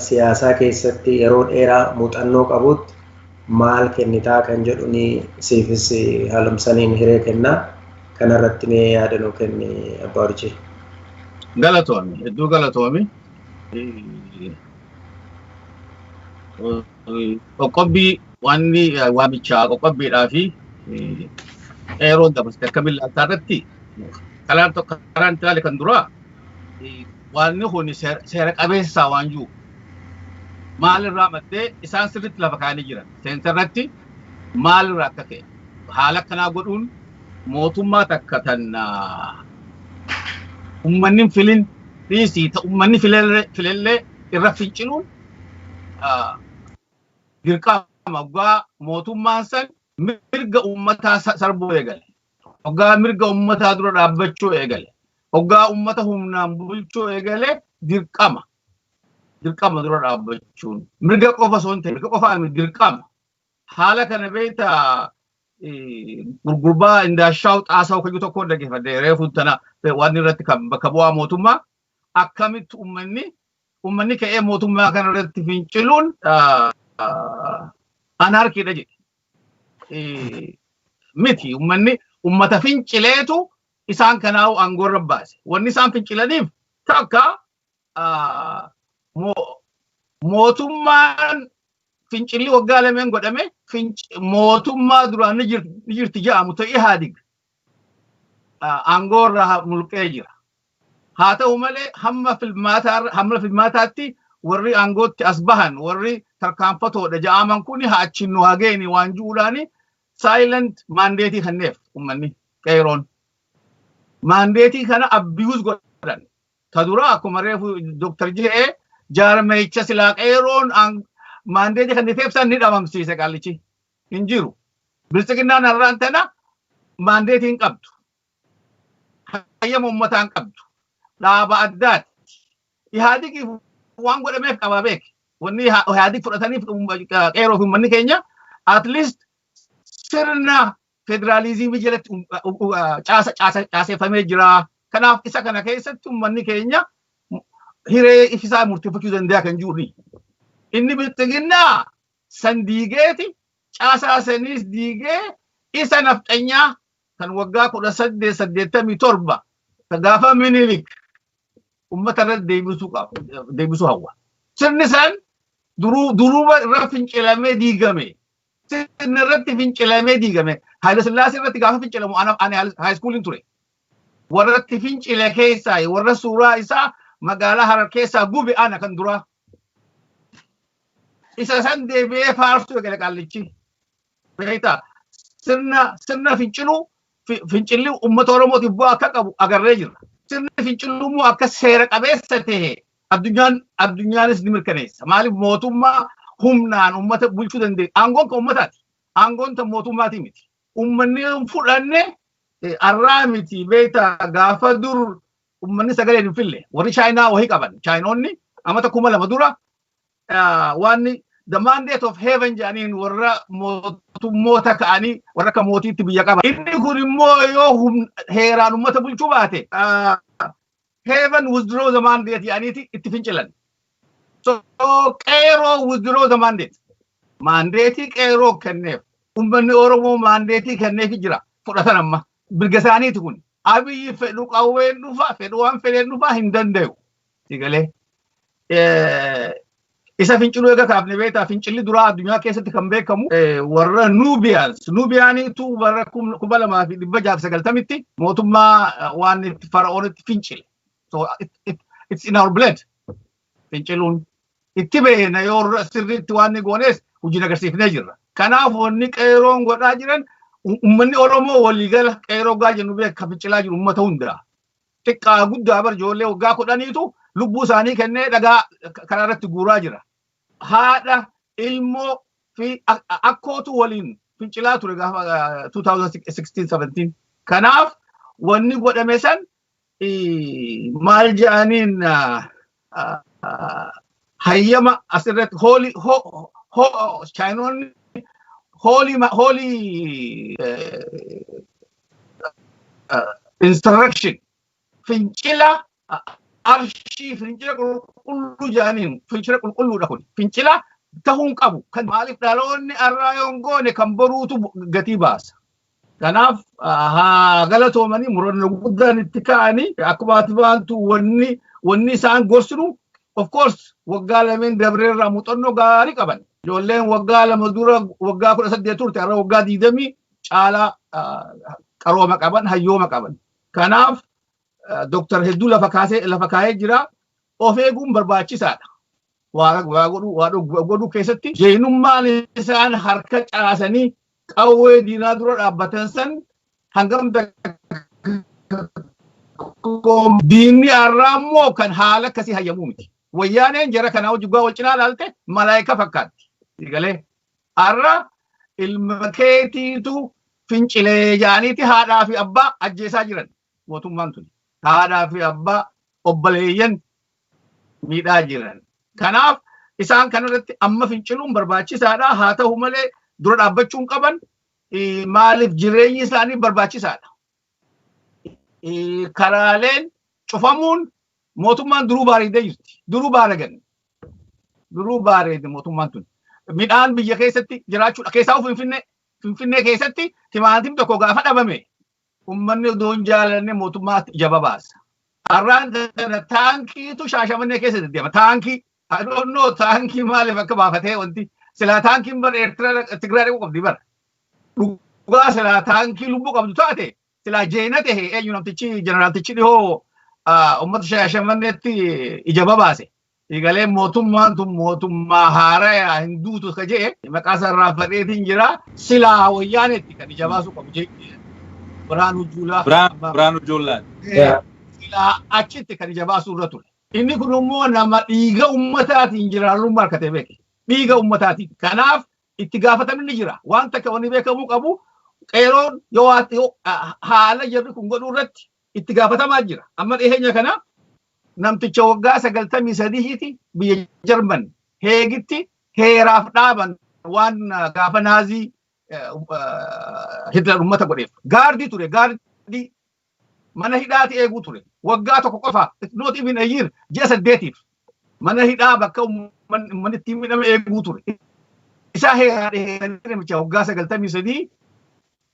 siyaasaa keessatti yeroo dheeraa muuxannoo qabuutti maal kennitaa kan jedhun siifis haalumsaniin hiree kenna. Kanarratti mee yaada nuu kenni Abbaa Urjii. Galatoomi, hedduu galatoomi. qoqqobbii waanni waamichaa qoqqobbiidhaa fi eeroon dabarsite akkamiin laaltaa irratti kalaan tokko karaan itti ilaale kan duraa waanni kun seera qabeessaa waan jiru maalirraa maddee isaan sirriitti lafa kaa'anii jiran seensa irratti maalirraa akka ka'e haala akkanaa godhuun mootummaa takka tan ummanni filin dhiisii ummanni filellee irra finciluun dirqama oggaa mootummaan san mirga ummataa sarbuu eegale. Oggaa mirga ummataa dura dhaabbachuu eegale. Oggaa ummata humnaan bulchuu eegale dirqama. Dirqama dura dhaabbachuun. Mirga qofa osoo hin ta'in mirga qofa miti dirqama. Haala kana beekta gurgurbaa indaashaaw xaasaw kayyuu tokko dhaggeeffadhe reefu tana waan irratti kan bakka bu'aa mootummaa akkamitti ummanni ummanni ka'ee mootummaa kana irratti finciluun anaarkiidha jedhe. Miti ummanni ummata fincileetu isaan kanaa'u aangoo irra baase. Wanni isaan fincilaniif takka mootummaan fincilli waggaa lameen godhame mootummaa duraan ni jirti jedhamu ta'e ihaadig aangoo irraa mulqee jira. Haa ta'u malee hamma filmaataa hamma filmaataatti warri aangootti as bahan warri tarkaanfatoodha ja'aaman kun haa achiin nu haa geeni waan ju'uudhaan silent maandeetii kenneef ummanni qeeroon. Maandeetii kana abiyuus godhan. Ta dura akkuma reefu Dr. Je'ee jaarmeecha silaa qeeroon maandeetii kenniteef san ni dhabamsiise qaallichi. hin jiru. Biltsiginnaan har'aan tana maandeetii hin qabdu. Hayyama ummataa hin qabdu. Dhaaba addaati. Ihaadigiif waan godhameef qabaa beeki. Wanni Ihaadig fudhataniif qeeroo fi ummanni keenya at least sirna federaaliizimii jalatti caaseffamee jira. Kanaaf isa kana keessatti ummanni keenya hiree ifisaa murteeffachuu danda'a kan jiru. Inni biltsiginnaa san diigeeti caasaa saniis diigee isa nafxanyaa kan waggaa 18 87 ka gaafa minilik ummata irratti deebisuu qaba deebisuu hawwa sirni san duruu duruuma irra fincilamee diigame sirni irratti fincilamee diigame haayila sillaasee irratti gaafa fincilamu ana ani haayiskuuliin ture warratti fincile keessaa warra suuraa isaa magaalaa harar keessaa gube ana kan duraa Isa san deebi'ee faarsuu eegale qaallichi. Beektaa sirna sirna finciluu fi- fincilli uummata Oromootiif bu'aa akka qabu agarree jirra. Sirni finciluu immoo akka seera qabeessa ta'e addunyaan addunyaanis ni mirkaneessa. Maaliif mootummaa humnaan uummata bulchuu danda'e? Aangoon kan uummataati. Aangoon kan mootummaatii miti. Uummanni hin fudhanne eh, arraa miti beektaa gaafa dur ummanni sagalee hin fille warri chaayinaa wahi qaban chaayinoonni amata kuma lama dura waanni the mandate of heaven jedhaniin warra mootummoota ka'anii warra akka mootiitti biyya qaba. Inni kun immoo yoo heeraan ummata bulchuu baate heaven withdraw the mandate jedhaniiti itti fincilan. So qeeroo withdraw the mandate. Maandeetii qeeroo kenneef ummanni Oromoo maandeetii kenneefi jira fudhatan amma. Mirga isaaniiti kuni. Abiyyi fedhu qawween dhufa, fedhu waan fedheen dhufa hin dandayu. Sigalee. Isa finciluu eega kaafne beektaa fincilli duraa addunyaa keessatti kan beekamu warra Nuubiyaans. Nuubiyaaniitu bara kuma lamaa fi dhibba jaaf sagaltamitti mootummaa waan fara'oonitti fincile. So it's in our blood. finciluun itti beekna yoo irra sirriitti waan ni goonees hojiin agarsiifnee jirra. Kanaaf wanni qeeroon godhaa jiran u- ummanni Oromoo waliigala qeeroo gaa jennu beeka fincilaa jiru ummata hundaa. Xiqqaa guddaa bar ijoollee waggaa kudhaniitu lubbuu isaanii kennee dhagaa k- karaa irratti guuraa jira. Haadha, ilmoo fi a- a- akkootu waliin fincilaa ture gaafa ah, 2016-17. Kanaaf wanni godhame san maal ja'aniin hayyama asirratti hoolii chaayinoonni hoolii hoolii insurrection fincila arshii fincila qulqulluu ja'aniin fincila qulqulluudha kun fincila ta'uun qabu kan maaliif dhaloonni arraa yoon goone kan boruutu gatii baasa. Kanaaf haa galatoomanii murannoo guddaan itti ka'anii akkuma ati baantu wanni wanni isaan gorsinu of course waggaa lameen dabreerraa muuxannoo gaarii qaban. Ijoolleen waggaa lama dura waggaa kudha saddeet turte har'a waggaa digdamii caalaa qarooma qaban hayyooma qaban. Kanaaf doktar hedduu lafa kaasee lafa kaa'ee jira. Of eeguun barbaachisaadha. waa waa godhu waa dhoggu- godhuu keessatti jeenummaan isaan harka caasanii qawwee diinaa dura dhaabbatan san hangam dakkoom diinni har'aa immoo kan haala akkasii hayyamuu miti. Wayyaaneen jara kanaa hojii gubbaa wal cinaa ilaalte malaayika fakkaatti. Galee har'a ilma keetiitu fincilee jaaniiti haadhaa fi abbaa ajjeesaa jiran. Mootummaan tuni haadhaa fi abbaa obbaleeyyan miidhaa jiran. Kanaaf isaan kana irratti amma finciluun barbaachisaadha. Haa ta'u malee dura dhaabbachuu hin qaban. Maaliif jireenyi isaanii barbaachisaadha. Karaaleen cufamuun mootummaan duruu baareedee jirti. Duruu baaragan. Duruu baareede mootummaan tuni. Midhaan biyya keessatti jiraachuudha. Keessaa Finfinnee Finfinnee keessatti timaatim tokko gaafa dhabame Ummanni odoo hin jaalanne mootummaa ija babaasa. Har'aan kana taankiitu shaashamannee keessa deddeema. Taankii. I don't know taankii maaliif akka baafatee wanti. Silaa taankiin bara Eertiraa Tigraay dhaquu qabdi bara. Dhugaa silaa taankii lubbuu qabdu taate silaa jeena ta'e eenyu namtichi jeneraaltichi dhihoo uummata shaashamanneetti ija babaase. Egalee mootummaan tun mootummaa haarayaa hin duutu ka jee maqaa isaa irraanfadheetiin jira. Silaa wayyaanetti kan ija baasuu qabu jee Biraanuu Juulaa. Biraanuu Juulaa. Silaa achitti kan ija baasuu irra ture. Inni kun immoo nama dhiiga ummataatiin jiraarrummaa harkatee beeke. Dhiiga ummataatiin. Kanaaf itti gaafatamni jira. Waan takka wanni beekamuu qabu qeeroon yoo haala jarri kun godhuu irratti itti gaafatamaa jira. Amma dhiheenya kana namticha waggaa 93ti biyya Jarman heegitti heeraaf dhaaban waan gaafa naazii Hitler uummata godheef. Gaardii ture gaardii mana hidhaati eeguu ture. Waggaa tokko qofa not even a year ji'a saddeetiif mana hidhaa bakka uummanni ittiin midhame eeguu ture. Isaa heeraa dheeranii namicha waggaa 93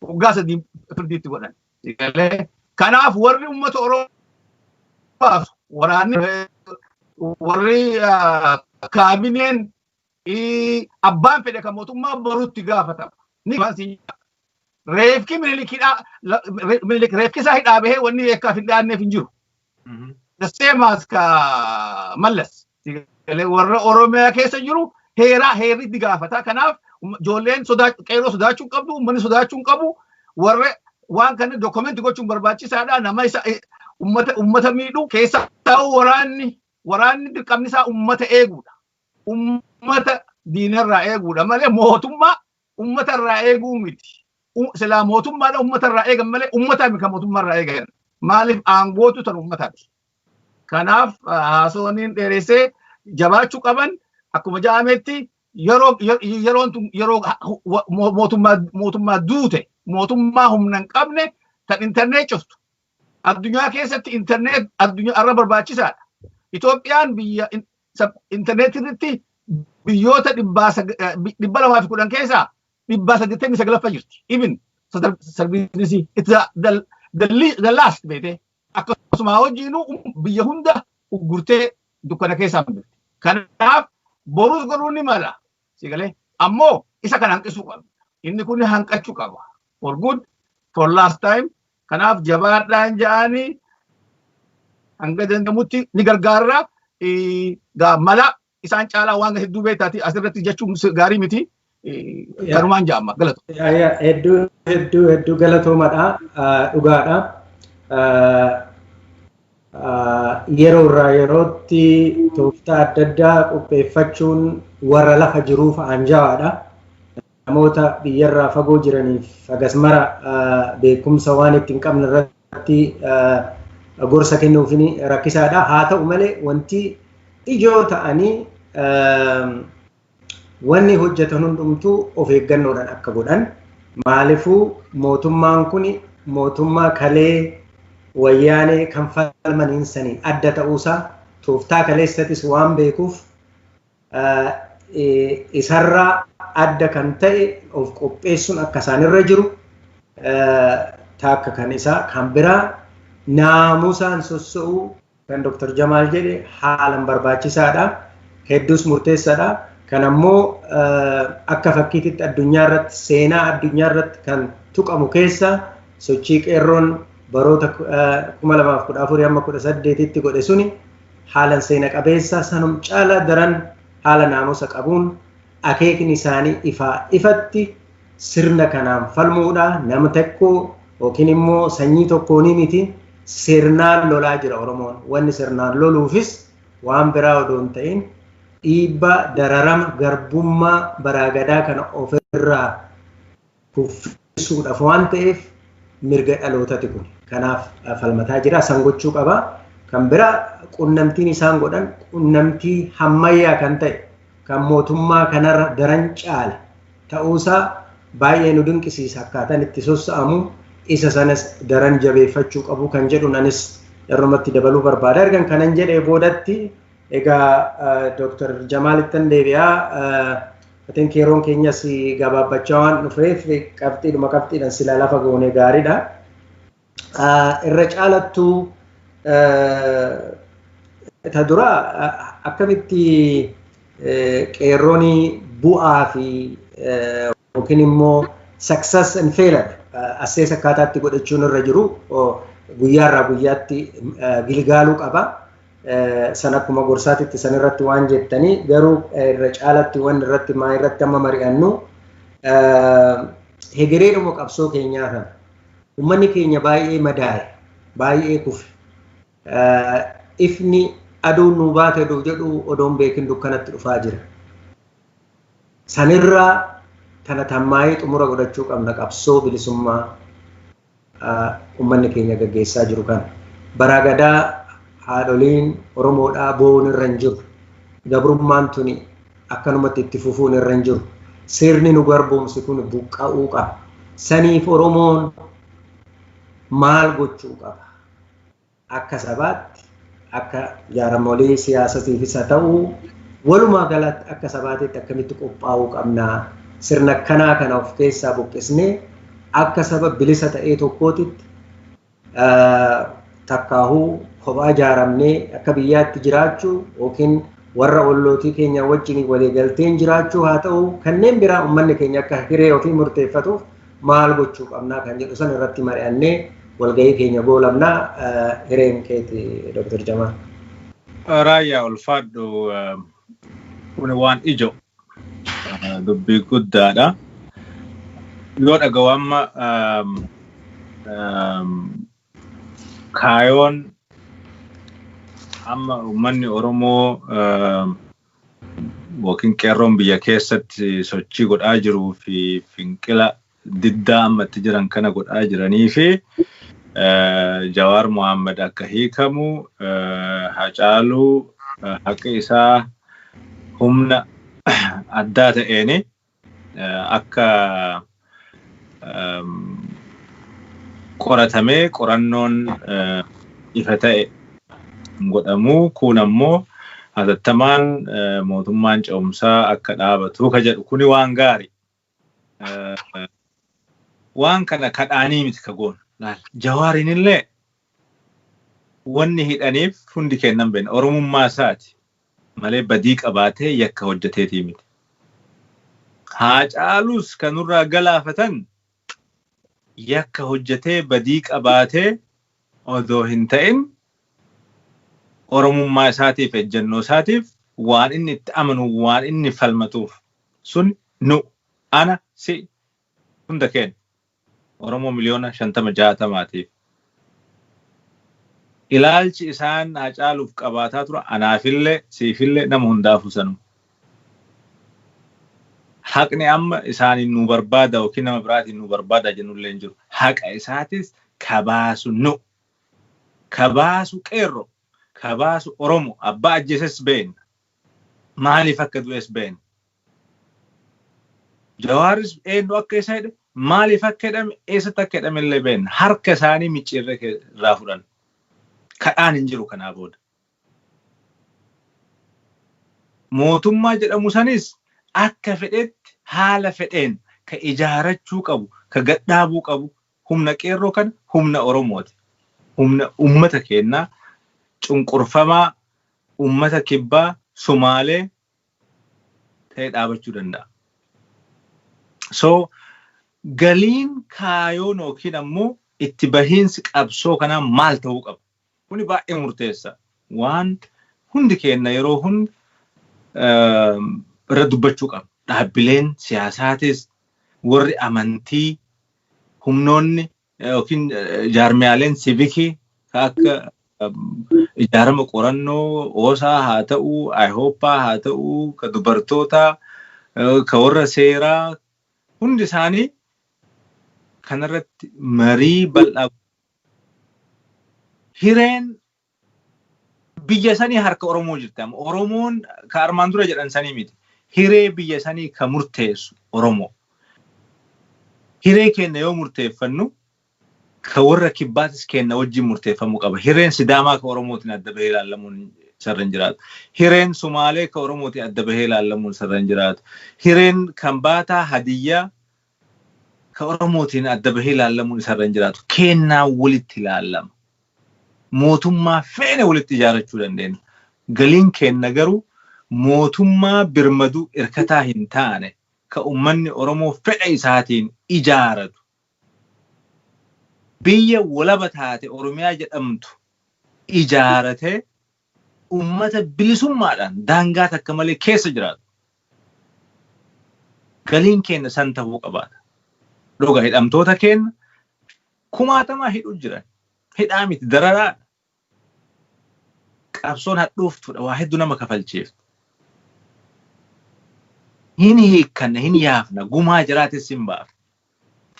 waggaa sadii firdiitti godhan. Galee. Kanaaf warri uummata Oromoo baasu waraanni warri kaabineen abbaan fedhe kan mootummaa boruutti gaafatama. Ni reefki minilikidhaa minilik reefkisaa hidhaa bahee wanni eekkaaf hin dhaanneef hin jiru. the same as ka mallas warra oromiyaa keessa jiru heeraa heerri itti gaafata kanaaf ijoolleen qeerroo sodaachuu qabdu uummanni sodaachuu qabu warra waan kana dookumenti gochuun barbaachisaadha nama isa uummata miidhu keessaa ta'uu waraanni waraanni dirqamni isaa uummata eeguudha uummata diinarraa eeguudha malee mootummaa Ummata irraa eeguu miti. Silaa mootummaadha ummata irraa eegan malee ummataa miti kan mootummaa irraa eegan. Maaliif aangootu tan ummataati. Kanaaf haasawaniin dheeressee jabaachuu qaban akkuma ja'ametti yeroon tun yeroo mootummaa duute mootummaa humna hin qabne tan intarnee cuftu Addunyaa keessatti internet addunyaa irra barbaachisaadha. Itoophiyaan biyya internet irratti biyyoota 210 keessaa 189ffaa jirti. Even service it's the last beete akkasuma hojiinu biyya hunda uggurtee dukkana keessaa hin jirti. Kanaaf borus godhuu ni mala. Sigalee ammoo isa kana hanqisuu qabna. Inni kun hanqachuu qaba. For good for last time Kanaaf jabaadhaan ja'aani hanga danda'amutti ni gargaarra. Gaa mala isaan caalaa waan hedduu beektaati asirratti jechuun gaarii miti. Kanumaan ja'amma galatu. Hedduu hedduu hedduu galatoomadha dhugaadha. Yeroo irraa yerootti tooftaa adda addaa qopheeffachuun warra lafa jiruuf aanjawaadha. Namoota biyyarraa fagoo jiraniif hagas mara beekumsa waan itti hin qabne irratti gorsa kennuufin rakkisaadha. Haa ta'u malee wanti ijoo ta'anii wanni hojjetan hundumtuu of eeggannoodhaan akka godhan maalifuu mootummaan kun mootummaa kalee wayyaanee kan falmaniin saniin adda ta'uusaa tooftaa kaleessatis waan beekuuf isarraa adda kan ta'e of qopheessuun akka isaanirra jiru taakka kan isaa kan biraa naamusaan sosso'uu kan Dr. Jamaal jedhe haalan barbaachisaadha. Hedduus murteessaadha. Kan ammoo akka fakkiititti addunyaa irratti seenaa addunyaa irratti kan tuqamu keessa sochii qeerroon baroota 2014 amma 18tti godhe suni haalan seena qabeessa sanum caala daran haala naamusa qabuun akeekni isaanii ifaa ifatti sirna kanaan falmuudha nam tekkoo yookiin immoo sanyii tokkoonii miti sirnaan lolaa jira oromoon wanni sirnaan loluufis waan biraa odoo hin ta'in dhiibbaa dararama garbummaa baraa gadaa kana ofirraa kuffisuudhaaf waan ta'eef mirga dhalootati kun. Kanaaf falmataa jira. San gochuu qaba. Kan bira qunnamtiin isaan godhan qunnamtii hammayyaa kan ta'e kan mootummaa kanarra daran caale ta'uusaa baay'ee nu dinqisiisa akkaataan itti sossa'amu isa sanas daran jabeeffachuu qabu kan jedhun anis irrumatti dabaluu barbaada. Ergan kanan jedhee boodatti Egaa Dr. Jamaalittan deebi'a. I think yeroon keenyas gabaabbachaa waan dhufeef qabxiidhuma qabxiidhaan silaa lafa goonee gaariidha. Irra caalattuu ta dura akkamitti qeerroon bu'aa fi yookiin immoo success and failure assees akkaataatti godhachuun irra jiru guyyaarraa guyyaatti gilgaaluu qaba. san akkuma gorsaatitti san irratti waan jettanii garuu irra caalatti waan irratti maa irratti amma mari'annu hegereedhuma qabsoo keenyaa kana uummanni keenya baay'ee madaa'e baay'ee kufe ifni aduun nuu baate oduu jedhu odoon beekin dukkanatti dhufaa jira. Sanirraa kana tammaa'ee xumura godhachuu qabna qabsoo bilisummaa ummanni keenya gaggeessaa jiru kana. Baraa Gadaa haadholiin Oromoodhaa boo'uun irra hin jiru. Gabrummaan tuni akkanumatti itti fufuun irra hin jiru. Sirni nu garboomse kun buqqa'uu qaba. Saniif Oromoon maal gochuu qaba? Akka sabaatti, akka jaaramolii siyaasatiifis haa ta'uu walumaa galatti akka sabaatiitti akkamitti qophaa'uu qabna? Sirna akkanaa kana of keessaa buqqisnee akka saba bilisa ta'ee tokkootitti takkaahuu kophaa jaaramnee akka biyyaatti jiraachuu yookiin warra ollootii keenya wajjin waliigalteen jiraachuu haa ta'uu kanneen biraa ummanni keenya akka hiree ofii murteeffatuuf maal gochuu qabnaa kan jedhu san irratti mari'annee walgahii keenya goolabna hireen keeti Dr. Jamaal. Raayyaa ulfaadhu kun waan ijoo dubbii guddaadha. Yoo dhagahu amma Kaayoon amma uummanni Oromoo yookiin qeerroon biyya keessatti sochii godhaa jiruu fi finqila diddaa amma itti jiran kana godhaa jiranii fi Jawaar Mohaammed akka hiikamu Hacaaluu haqi isaa humna addaa ta'eeni Akka qoratamee qorannoon ifa ta'e godhamu kun ammoo hatattamaan mootummaan ce'umsaa akka dhaabatu ka jedhu kuni waan gaari. Waan kana kadhaanii miti ka goonu. Jawaariin illee Wanni hidhaniif hundi keenna hin beenne. Oromummaa isaati malee badii qabaatee yakka hojjateetii miti. Haacaaluus ka nurraa galaafatan yakka hojjatee badii qabaatee odoo hin ta'in Oromummaa isaatiif ejjannoo isaatiif waan inni itti amanu waan inni falmatuuf sun nu, ana, si, hunda keenna. Oromoo miliyoona 50, 60 tiif ilaalchi isaan Haacaaluuf qabaataa turan anaafillee, siifillee, nama hundaafuu sanuma. Haqni amma isaaniin nuu barbaada ykn nama biraatiin nuu barbaada jennullee hin jiru. Haqa isaatis ka baasu nu. Ka baasu Qeerroo. Ka baasu Oromoo. Abbaa ajjeeses beenna. Maaliif akka du'es beekna. Jawaaris eenyu akka isa hidhe, maaliif akka hidhame, eessatti akka hidhame illee beekna. Harka isaanii micciirree kee- irraa fudhan. Kadhaan hin jiru kanaa booda. Mootummaa jedhamu sanis akka fedhetti haala fedheen ka ijaarachuu qabu, ka gadhaabuu qabu Humna Qeerroo kana humna Oromooti. Humna ummata keennaa, cunqurfamaa, ummata Kibbaa, Sumaalee ta'ee dhaabachuu danda'a. So, galiin, kaayoon ykn ammoo itti bahiinsi qabsoo kanaa maal ta'uu qaba? Kuni baay'ee murteessa waan hundi keenna yeroo hunda irra dubbachuu qabnu. Dhaabbileen siyaasaatis, warri amantii, humnoonni yookiin jaarmiyaaleen sivikii ka akka ijaarama qorannoo oosaa haa ta'u, ayihooppaa haa ta'u, ka dubartootaa, ka warra seeraa hundi isaanii kanarratti marii bal'aa hireen biyya sanii harka Oromoo jirti amma. Oromoon ka armaan dura jedhan sanii miti. Hiree biyya sanii ka murteessu Oromoo. Hiree keenna yoo murteeffannu ka warra kibbaatis keenna wajjin murteeffamuu qaba. Hireen Sidaamaa ka Oromootiin adda bahee ilaallamuun sarra hin jiraatu. Hireen Sumaalee ka Oromootiin adda bahee ilaallamuun sarra hin jiraatu. Hireen Kambaataa, Hadiyyaa, ka Oromootiin adda bahee laallamuun isa irra hin jiraatu. Keennaan walitti laallama. Mootummaa feene walitti ijaarachuu dandeenna. Galiin keenna garuu mootummaa birmaduu irkataa hin taane ka ummanni Oromoo fedha isaatiin ijaaratu, biyya walaba taate Oromiyaa jedhamtu ijaaratee Ummata bilisummaadhaan daangaa takka malee keessa jiraatu. Galiin keenna san tahuu qabaata. Dhuga hidhamtoota keenna kumaatamaan hidhuu jiran. Hidhaa miti dararaadha. Qabsoon hadhooftuudha. Waa hedduu nama kafalchiifti. Hin hiikkanna, hin yaafna, gumaa jaraatis hin baafna.